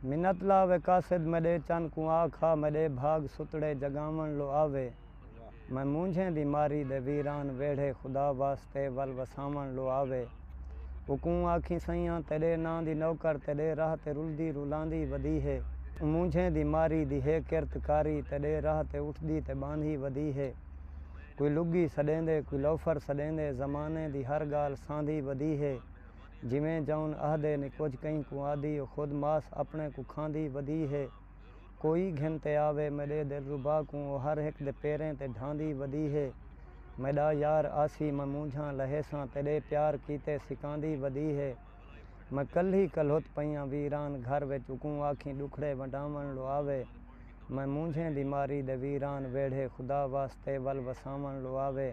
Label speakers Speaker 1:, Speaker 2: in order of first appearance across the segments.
Speaker 1: منت لا وے قاصد میڈے چن کوں آ کھا میڈے بھاگ ستڑے جگاون لو آ وے میں مونجھیں دی ماری دے ویران ویڑھے خدا واسطے ول وساون لو آ وے اوکوں آکھیں سئیاں تیڈے ناں دی نوکر تیڈے راہ تے رلدی رولاندی ودی ہے مونجھیں دی ماری دی ہے کرت کاری تیڈے راہ تے اٹھدی تے باندھی ودی ہے کوئی لگی سڈیندے کوئی لوفر سڈیندے زمانے دی ہر گالھ ساندھی ودی ہے۔ جیویں جاؤن آہدے نے کجھ کہیں کوں آدھی او خود ماس اپنے کوں کھاندی ودی ہے کوئی گھن تے آوے میڈے دلربا کوں او ہر ہک دے پیریں تے ڈھاندی ودی ہے میڈا یار آسی میں مونجھاں لہیساں تیڈے پیار کیتے سکاندی ودی ہے میں کلھی کلہت پئیاں ویران گھر وچ اوکوں آکھیں ڈکھڑے ونڈاون لو آوے میں مونجھیں دی ماری دے ویران ویڑھے خدا واسطے ول وساون لو آوے۔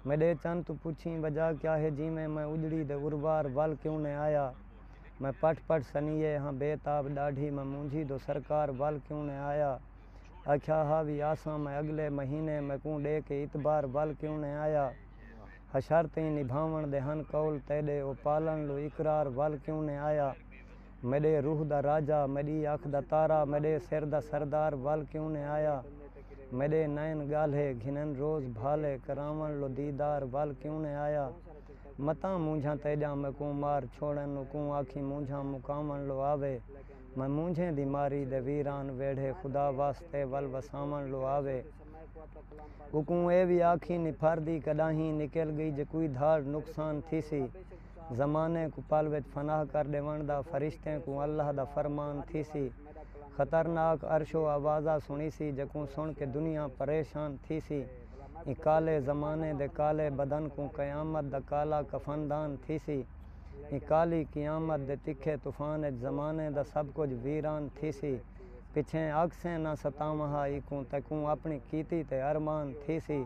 Speaker 1: میݙے چن توں پچھیں وجہ کیا ہے جیویں میں اجڑی دے اروار ول کیوں نئیں آیا میں پٹ پٹ سنیہے ہاں بے تاب ݙاڈھی میں مونجھی دو سرکار ول کیوں نئیں آیا آکھیا ہا وی آساں میں اڳلے مہینے میکوں ݙے کے اتبار ول کیوں نئیں آیا ہشر تئیں نبھاوݨ دے ہن قول تیݙے او پالݨ لو اقرار ول کیوں نئیں آیا میݙے روح دا راجہ، میݙی اکھ دا تارا، میݙے سر دا سردار ول کیوں نئیں آیا؟ میݙے نئن ڳالھے، گھنن روز بھالے، کراوݨ لو دیدار ول کیوں نئیں آیا؟ متاں مونجھاں تیݙیاں میکوں مار چھوڑن نوں کوں آکھیں مونجھاں مکاوݨ لو آوے، میں مونجھیں دی ماری دے ویران ویڑھے خدا واسطے ول وساوݨ لو آوے۔ اوکوں اے وی آکھیں نپھر دی کݙاہیں نکل ڳئی جے کوئی دھاڑ نقصان تھیسی۔ زمانے کوں پل وچ فنا کر ݙیوݨ دا فرشتیں کوں اللہ دا فرمان تھیسی، خطرناک عرش و آوازاں سݨیسی جیکوں سݨ کے دنیا پریشان تھیسی۔ ایں کالے زمانے دے کالے بدن کوں قیامت دا کالا کفن دان تھیسی۔ ایں کالی قیامت دے تکھے طوفان وچ زمانے دا سب کجھ ویران تھیسی۔ پچھیں آکھسیں نہ ستاواں ہا ایکوں تیکوں اپݨی کیتی تے ارمان تھیسی۔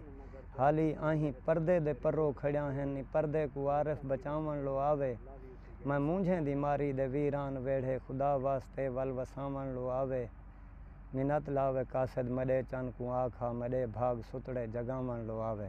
Speaker 1: حالی آہیں پردے دے پرو کھڑیاں ہن نی پردے کوں عارف بچاوݨ لو آوے میں مونجھیں دی ماری دے ویران ویڑھے خدا واسطے ول وساوݨ لو آوے منت لاوے قاصد مݙے چن کوں آکھ ہا مݙے بھاڳ ستڑے جڳاوݨ لو آوے۔